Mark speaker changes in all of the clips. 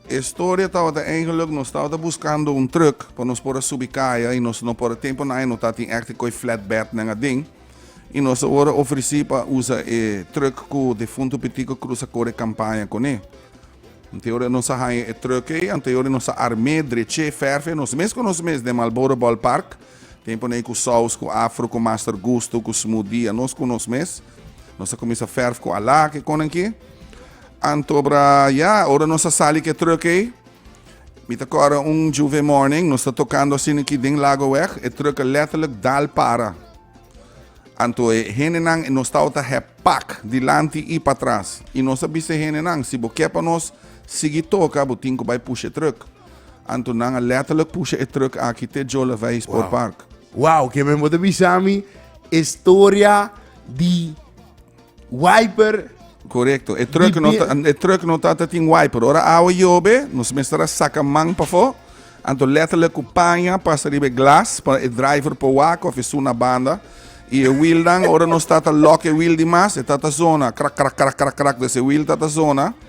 Speaker 1: E storia tabata eigenlik nos tabata buskando un truk pa nos por a subi kaya i nos no por a tempu na ai no ta tin ekte koe flatbednan aden i nos a worde ofresí pa usa e truk ku defuntu Pitico Cruz a kore kampaña kuné. Anteor nos a haña e truk ei, anteor nos a arm'é, drech'é, fèrf'é nos mes ku nos mes den Marlboro Ballpark, tempunan ei ku Saus, ku Afro, ku Master Gusto, ku Smooth Dia, nos ku nos mes. Nos a kuminsá fèrf ku alá, kikonan ki. Anto bra ya, ora nos a sali ke truck ei, mi ta kòrda un Juve morning, nos ta tokando asin aki den Lagoweg, e truck a letterlijk dal para. Anto e hendenan, nos tabata hèp pak, dilanti i patras. I nos a bisa e hendenan, si bo ke pa nos sigui toka, bo tin ku bai pusha e truck. Anto nan a letterlijk pusha e truck aki te Jolavei Sportpark. Wow, ke men bo ta bisa mi e storia di. Wiper. Correcto. E truck no ta, e truck no ta, ta tin wiper. Ora awa yobe, nos mester a saca man pafo. Anto letterlijk cu paña pasa riba e glas pa e driver por wak of e su na banda. Y e wiel dan, ora nos ta ta lock e wiel di mas, e ta ta zona. Krak, krak, krak, krak, krak. Des e wiel ta ta zona.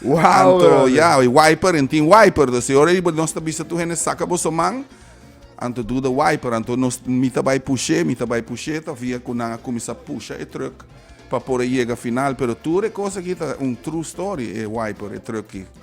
Speaker 1: Wow! Anto, ya, e wiper, en tin wiper. Dus e ora riba nos ta bisa tur hende saka boso man, anto duda wiper. Anto nos, mi ta bai push'é, mi ta bai push'é, ta via ku nan a kuminsá pusha e trùk pa por a yega final. Pero tur e kos aki ta un true story, e wiper, e trùk ki.